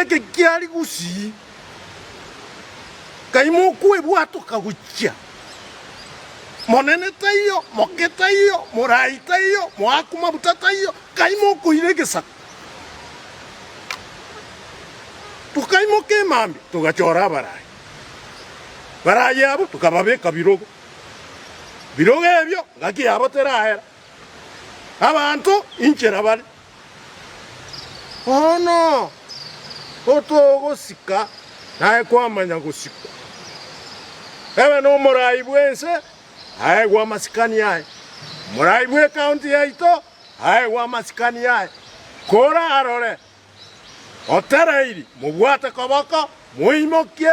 Ekekia rigusii, kaimo okwebwato kagochia. Monene taiyo, moke taiyo, morai taiyo, moaku mabuta taiyo, kaimo okoira egesaku. Tokaimoka emambia togachora abarai. Barai abo tokababeka birogo. Birogo ebio ngaki yabo terahera. Abanto inchera bare. Bono otogosika naye kwamanya gosikwa, ebe nomorai bw'ense aegwe amasikani aye, omorai bw'ecounty yaito aegwe amasikani aye, korarore otereiri mobwate koboko, moimokie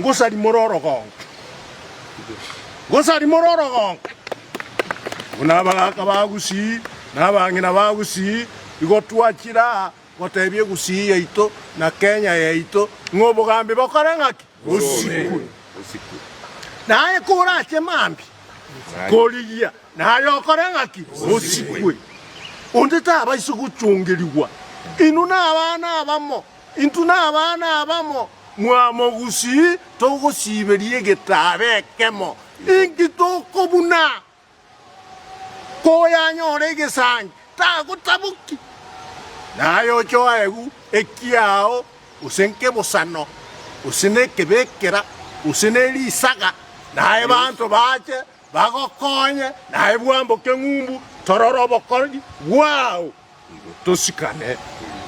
ngosarimore orogonka, ngosarimore orogonka. Buna abagaka ba gusii na abang'ina ba gusii, igo twachire aa gotebia egusii yaito na Kenya yaito ng'a obogambi bokore ng'aki? Bosikwe. Naye korache mambia korigia, naye okore ng'aki? Bosikwe. Onde tabaisie gochongerigwa. Inwe nabana abamo, Intwe nabana abamo, mwamogusii, togosiberia egetaaba ekemo. Inki tokobuna? Koyanyora egesangi, tagotaboki, naye ochoegu ekiao, gose nkebosano, gose nekebekera, gose nerisaga, naye banto bache bagokonye, naye bwamboke ng'umbu, torore obokori bwao, nigo tosikane.